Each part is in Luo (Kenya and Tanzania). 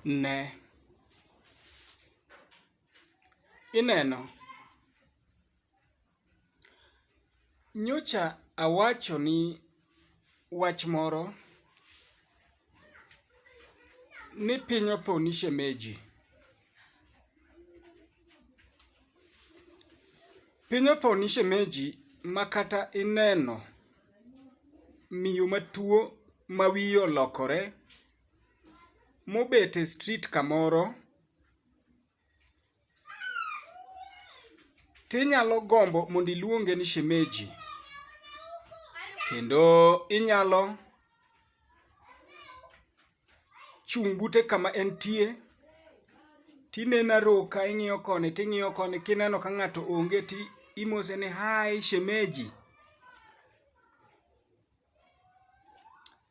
Ne. Ineno? Nyocha awacho ni wach moro ni piny othoni shemeji. Piny othoni shemeji ma kata ineno miyo matuo ma wiye olokore mobet e street kamoro tinyalo gombo mondo iluonge ni shemeji kendo inyalo chung' bute kama entie tinena roka ing'iyo koni ting'iyo koni kineno ka ng'ato onge ti imose ni hai shemeji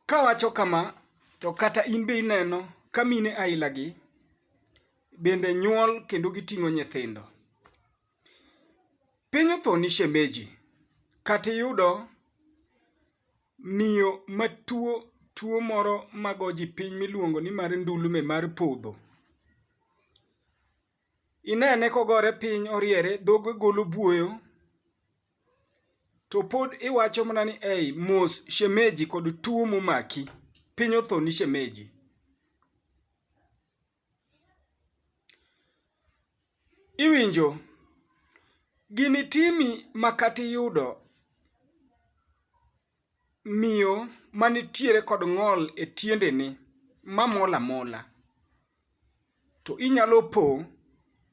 kawacho kama to kata in be ineno ka mine ailagi bende nyuol kendo giting'o nyithindo piny othoni shemeji kata iyudo Miyo matuo tuo moro mago ji piny miluongo ni mar ndulme mar podho. Inene kogore piny oriere dhoge golo buoyo to pod iwacho mana ni ei mos shemeji kod tuo momaki piny othoni shemeji. Iwinjo, gini timi makata iyudo miyo manitiere kod ng'ol e tiendene mamol amola, to inyalo po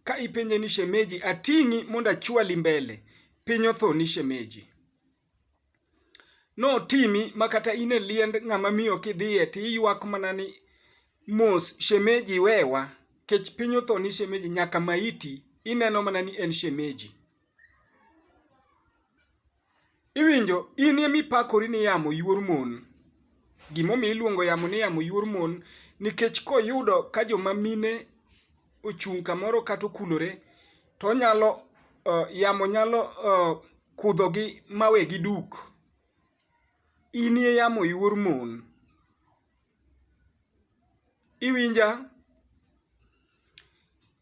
ka ipenje ni shemeji ating'i mondo achwali mbele, piny othoni shemeji. Notimi ma kata in e liend ng'ama miyo kidhiye to iywak mana ni mos shemeji wewa kech piny otho ni shemeji nyaka maiti ineno mana ni en shemeji. Iwinjo in ema ipakori ni yamo yuor mon. Gimomiyo iluongo yamo ni yamo yuor mon nikech koyudo ka joma mine ochung' kamoro kata okulore to onyalo uh, yamo nyalo uh, kudhogi mawegi duk inie yamo iwuor mon iwinja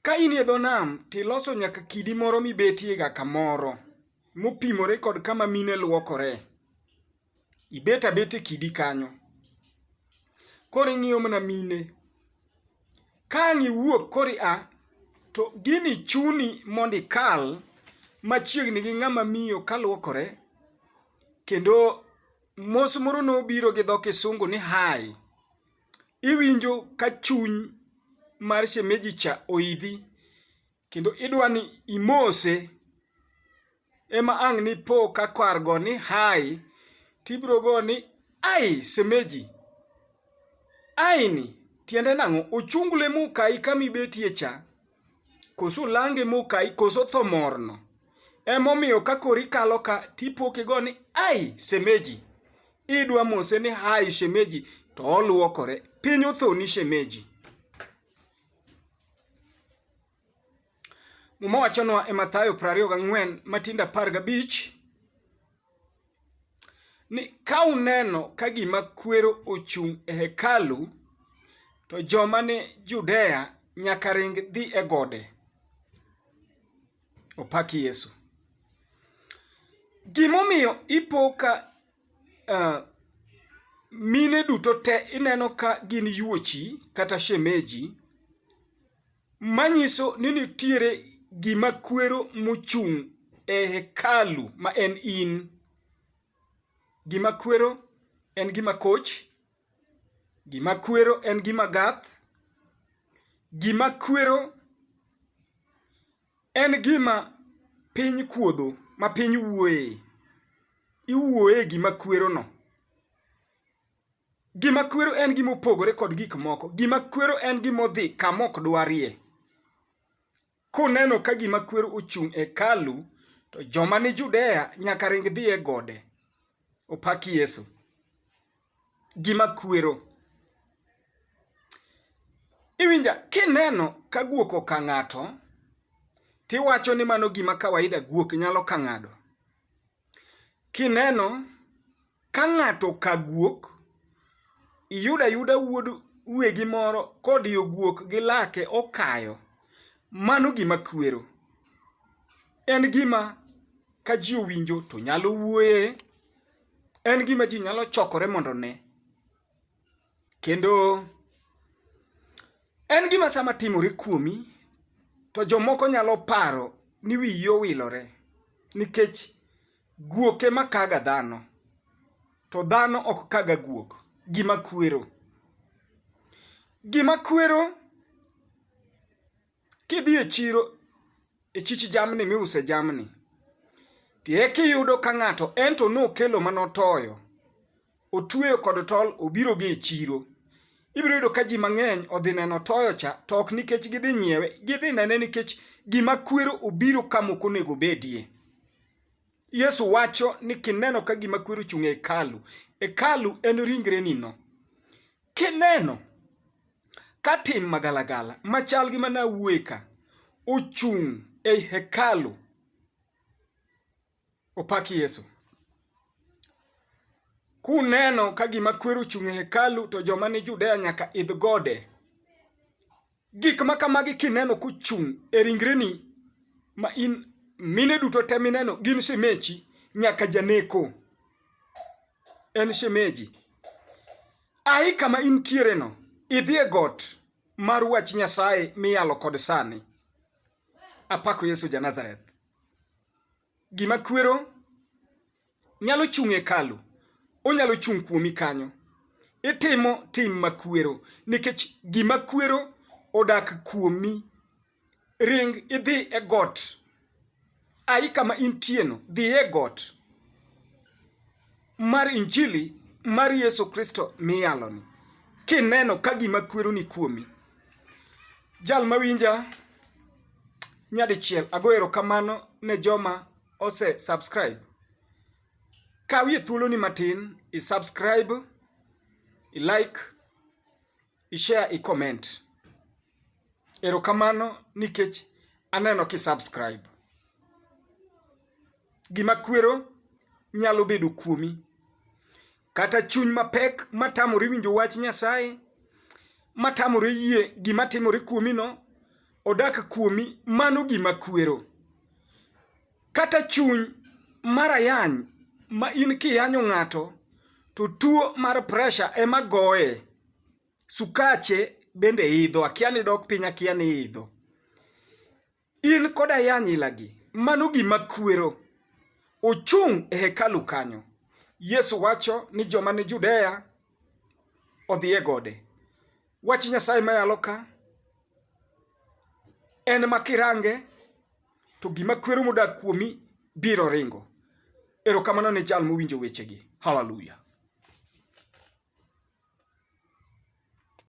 ka in e dho nam tiloso nyaka kidi moro mibetiega kamoro mopimore kod kama mine lwokore ibet abet e kidi kanyo koro ing'iyo mana mine ka ang' iwuok koro ia to gini chuni mondo ikal machiegni gi ng'ama miyo kaluokore kendo mos moro nobiro gi dho kisungu ni hi iwinjo ka chuny mar shemeji cha oidhi kendo idwa ni imose ema ang' ni po ka kar go ni hai tibro go ni ai semeji aini tiende nang'o ochungle mokai kama ibetie cha koso lange mokai koso tho morno emomiyo ka koro ikalo ka tipoke go ni ai semeji idwa mose ni hai shemeji to oluokore piny othoni shemeji Muma wachonwa e Mathayo 24 matindo 15 ni ka uneno ka gima kwero ochung' e hekalu to joma ni Judea nyaka ring dhi e gode. Opaki Yesu. Gimomiyo ipo ka mine duto te ineno ka gin yuochi kata shemeji manyiso ni nitiere gima kwero mochung' e hekalu ma en in. Gima kwero en gima koch, gima kwero en gima gath, gima kwero En gima piny kuodho ma piny wuoye. Iwuoye e gima kwerono. Gima kwero en gima opogore kod gik moko. Gima kwero en gima odhi kama ok dwarie. Kuneno ka gima kwero ochung' e hekalu, to joma ni Judea nyaka ring dhi e gode. Opak Yesu. gima kwero. Iwinja, kineno ka guok oka ng'ato, tiwacho ni mano gima kawaida guok nyalo ka ng'ado. Kineno ka ng'ato ka guok, iyudo ayuda wuod wegi moro kodiyo guok gi lake okayo, mano gima kwero. En gima ka ji owinjo to nyalo wuoye. en gima ji nyalo chokore mondo ne kendo en gima sama timore kuomi to jomoko nyalo paro ni wiyi owilore nikech guok ema kaga dhano to dhano ok kaga guok gima kwero gima kwero Kidhi e chiro e chich jamni miuse jamni, tie kiyudo ka ng'ato ento nokelo mane otoyo, otweyo kod tol obiro gi e chiro. Ibiro yudo ka ji mang'eny odhi neno toyo cha, to ok nikech gidhi nyiewe, gidhi nene nikech gima kwero obiro ka mok onego obedie. Yesu wacho ni kineno ka gima kwero ochung' e hekalu, hekalu en ringrenino. Kineno ka tim magalagala machal gi mana wuoye ka ochung' ei hekalu, opak Yesu. Kuneno ka gima kwero ochung' e hekalu to joma ni Judea nyaka idh gode. Gik ma kamagi kineno kochung' e ringreni ma in mine duto te mineno gin shemeji nyaka janeko en shemeji. Ayi kama intiereno, idhi e got mar wach Nyasaye miyalo kod sani. Apako Yesu ja Nazareth. Gima kwero nyalo chung' e kalu, onyalo chung' kuomi kanyo. Itimo tim makwero nikech gima kwero odak kuomi. Ring idhi e got, ayi kama intieno, dhi e got. mar Injili mar Yesu Kristo miyaloni, kineno ka gima kwero ni kuomi. Jal mawinja nyadichiel, ago erokamano ne joma ose subscribe. Kawie thuoloni matin, i subscribe, i like, ishare, icomment. Erokamano nikech aneno kisubscribe. Gima kwero nyalo bedo kuomi, kata chuny mapek matamore winjo wach Nyasaye, matamore yie gima timore kuomino, odak kuomi, mano gima kwero. Kata chuny mar ayany ma in kiyanyo ng'ato to tuo mar presha ema goye. Sukache bende idho, akia ni dok piny akia ni idho. In kod ayany ilagi, mano gima kwero. Ochung' e hekalu kanyo. Yesu wacho ni joma ni Judea odhi e gode. Wach Nyasaye mayalo ka en ma kirange to gima kwero modak kuomi biro ringo. Erokamano ne jal mowinjo wechegi. Haleluya!